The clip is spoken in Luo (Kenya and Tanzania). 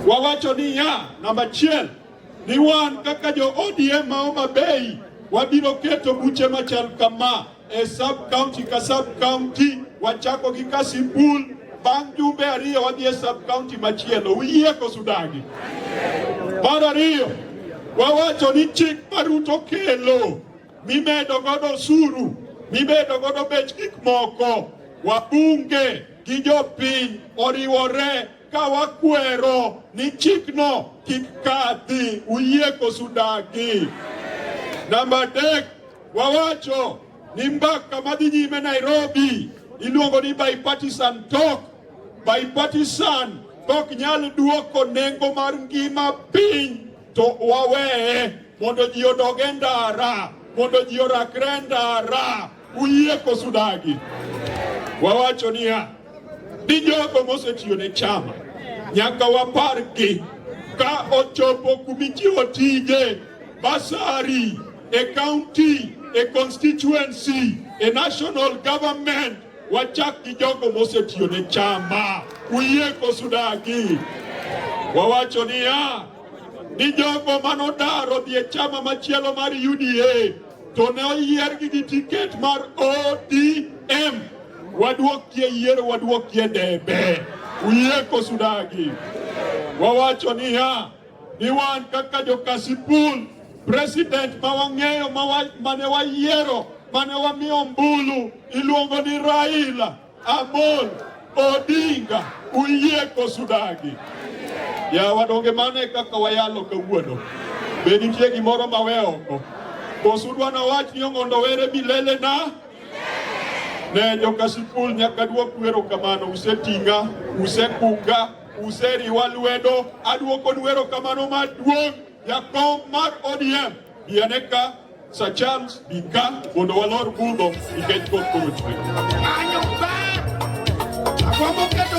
Wawacho ni ya namba chiel ni wan kaka jo ODM ma Homa Bay wabiro keto buche machal kama e sub county ka sub county, wachako gi Kasipul, bang' jumbe ariyo wadhi e sub county machielo. Uyie koso udagi? Mar ariyo wawacho ni chik ma Ruto kelo mimedo godo osuru mimedo godo bech gik moko wabunge gi jopiny oriwore Ka wakwero ni chikno kik kadhi, uyie kosu dagi? Namba adek, wawacho ni mbaka madhi nyime Nairobi iluongo ni bipartisan talk. Bipartisan kok nyal duoko nengo mar ngima piny, to waweye mondo ji odog e ndara, mondo ji orakre e ndara. Uyie koso dagi? Wawacho niya, ni jogo mosetiyo ne chama nyaka wapargi ka ochopo kumichiwo tije basari e county e constituency e national government wachak gi jogo mosetiyo ne chama uyie koso dagi wawacho niya ni jogo manodaro dhi e chama machielo mar UDA to ne oyiergi gi tiket mar ODM. Wadwokie yiero, wadwokie debe. Uyie kosudagi? Wawacho niya ni wan kaka jokasipul president ma wang'eyo mane wayiero mane wamiyo ombulu iluongo ni Raila Amol Odinga uyie koso udagi? Yawa donge mano e kaka wayalo kawuono? Be nitie gimoro ma we oko? Koso udwa nawach ni Ong'ondo were milele na? Ne joka sikul nyaka duok wero kamano, useting'a, usekunga, useriwa lwedo, aduokonu wero kamano maduong' jakom mar ODM. Bianeka, Sir Charles, Bika, mondo walor budho nikech koth koro chwe. Anyo ber! Agombo keto